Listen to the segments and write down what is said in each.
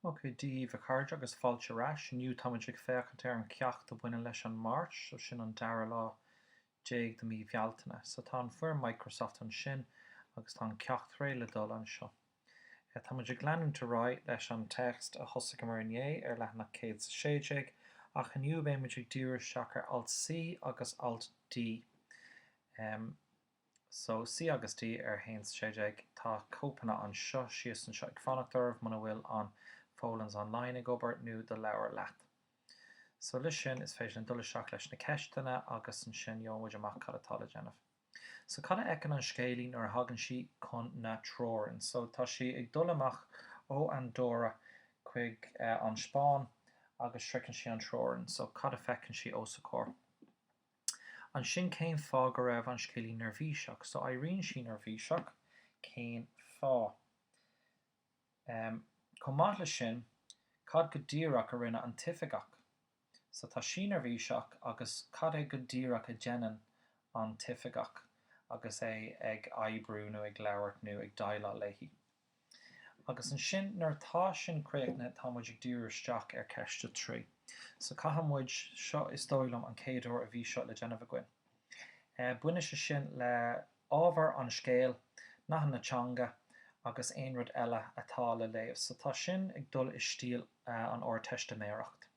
Ok, Dia daoibh a chairde agus fáilte ar ais. Inniu táimid ag féachaint ar an cheacht a bhaineann leis an Máirt, so sin an dara lá déag de mí Bhealtaine. So tá an foirm Microsoft ansin agus tá an ceacht réidh le dul anseo. Eh, táimid ag leanúint ar aghaidh leis an téacs a thosaigheamar inné ar leathanach céad 's a sé déag ach inniu beimid ag díriú isteach ar alt C agus alt D. Em. So, C agus D ar a haon sé déag, tá cóipeanna anseo, síos anseo ag fanacht oraibh muna bhfuil an Folens Online ag obair, nó do leabhar leat. So leis sin, is féidir linn dul isteach leis na ceisteanna agus ansin gheobhaidh muid amach cad atá le déanamh. So cad a fheiceann an scéalaí nuair a thagann sí chun na teorann? So tá sí ag dul amach ó Andóra chuig an Spáinn agus sroicheann sí an teorann. So cad a feiceann sí os a comhair? Ansin cén fáth go raibh an scéalaí neirbhíseach? So éiríonn sí neirbhíseach, cén fáth? Em, chomh maith leis sin, cad go díreach a rinne an t-oifigeach? So tá sí neirbhíseach agus cad é go díreach a dhéanann an t-oifigeach agus é ag oibriú nó ag labhairt nó ag déileáil léi? Agus ansin, nuair atá sin críochnaithe, tá muid ag díriú isteach ar cheist a trí. So caithfidh muid, seo is dóigh liom an chéad uair a bhí seo le déanamh againn. Baineann sé sin le ábhar an scéil, nathanna teanga agus aon rud eile atá le léamh. So tá sin ag dul i stíl an Ardteistiméireacht.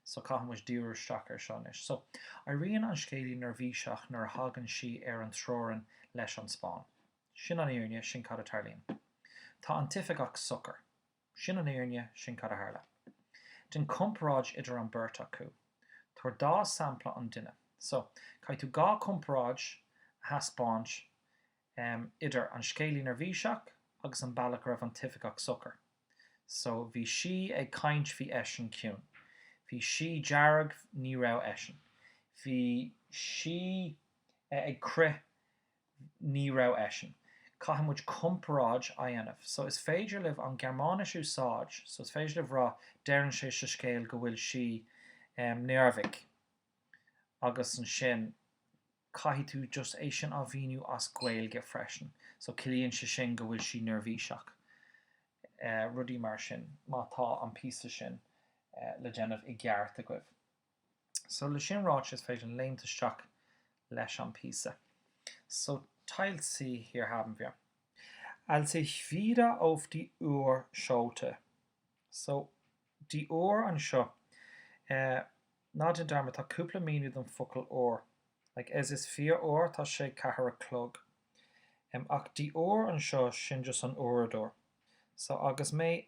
So caithfidh muid díriú isteach ar seo anois. So éiríonn an scéalaí neirbhíseach nuair a thagann sí ar an teorainn leis an Spáinn. Sin an fhírinne, sin cad a tarlaíonn. Tá an t-oifigeach socair. Sin an fhírinne, sin cad a tharla. Déan comparáid idir an bheirt acu. Tabhair dhá sampla an duine. So, caithfidh tú dhá chomparáid a thaispeáint idir an scéalaí neirbhíseach agus an bealach a raibh an t-oifigeach socair. So, bhí sí ag caint bhí eisean ciúin. Bhí sí dearg ní raibh eisean. Bhí sí ag crith Ní raibh eisean. Caithfidh muid comparáid a dhéanamh. So is féidir libh an Gearmáinis a úsáid, so is féidir libh rá, deireann sé sa scéal go bhfuil sí neamhaird, agus ansin caithfidh tú just é sin á mhíniú as Gaeilge freisin. So ciallaíonn sé sin go bhfuil sí neirbhíseach, rudaí mar sin, má tá an píosa sin le déanamh i gceart agaibh. So le sin ráite is féidir linn léimt isteach leis an píosa. So Teil C, hier haben wir. Als ich wieder auf die Uhr schaute. So die Uhr anseo, eh ná déan dearmad tá cúpla míniú don focal Uhr. Like es ist vier Uhr, tá sé ceathair a chlog. Em ach die Uhr anseo sin just an uaireadóir. So agus mé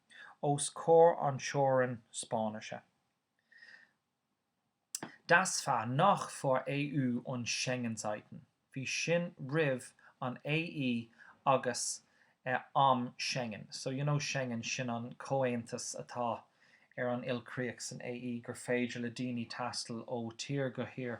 os comhair an teorainn Spáinnise. Das war noch vor EU und Schengenzeiten, bhí sin roimh an AE agus am Schengen. So you know Schengen, sin an comhaontas atá ar an ilchríoch san AE gur féidir le daoine taisteal ó thír go thír.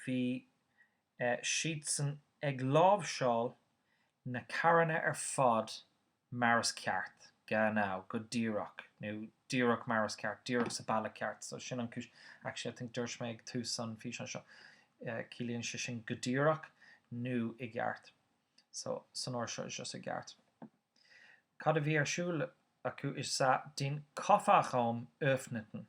bhí siadsan ag láimhseáil na carranna ar fad mar is ceart, genau, go díreach, nó díreach mar is ceart, díreach sa bealach ceart, so sin an chúis, actually I think dúirt mé ag tús an físeáin seo, ciallaíonn sé sin go díreach nó i gceart, so san ord seo is just i gceart. Cad a bhí ar siúl acu is ea den Kofferraum öffneten,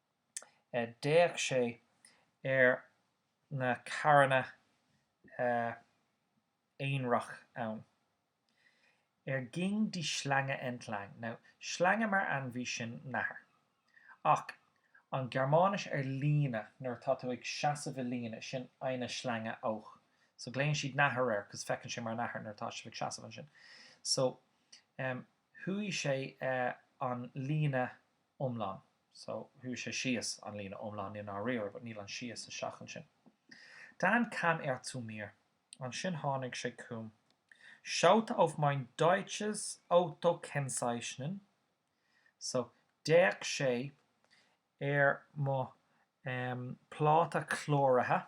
d'fhéach sé ar na carranna aonarach ann. Er ging die Schlange entlang? Now Schlange mar ainmhí sin nathair. Ach an Gearmáinis ar líne nuair atá tú ag seasamh i líne, sin eine Schlange auch. So glaonn siad nathair air cos feiceann sé mar nathair nuair atá sibh ag seasamh ansin. So chuaigh sé an líne iomlán. So, chuaigh sé síos, an líne iomlán, níos nádúrtha, but níl an síos isteach ansin. Dann kam er zu mir. Ansin tháinig sé chugam. Schaute auf mein deutsches Autokennzeichnen. So, d'fhéach sé ar mo, em, pláta cláraithe.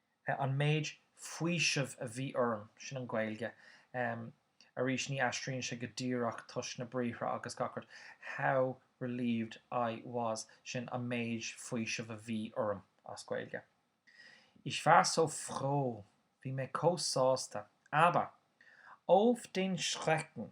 an méid faoisimh a bhí orm, sin an Ghaeilge, em, arís ní aistríonn sé go díreach toisc na briathra agus gach rud, how relieved I was, sin an méid faoisimh a bhí orm, as Gaeilge. Ich war so froh, bhí mé comh sásta, aber, auf den Schrecken,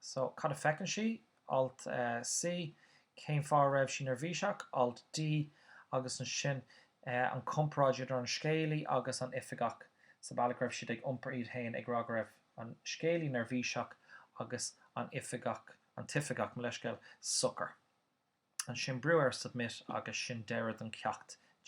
So, cad a feiceann sí? Alt C, Cén fáth a raibh sí neirbhíseach? Alt D, Agus ansin an chomparáid idir an scéalaí agus an oifigeach sa bhealach go raibh siad ag iompar iad féin, ag rá go raibh an scéalaí neirbhíseach agus an oifigeach, an t-oifigeach, mo leithscéal, socair. Ansin brú ar submit agus sin deireadh don cheacht.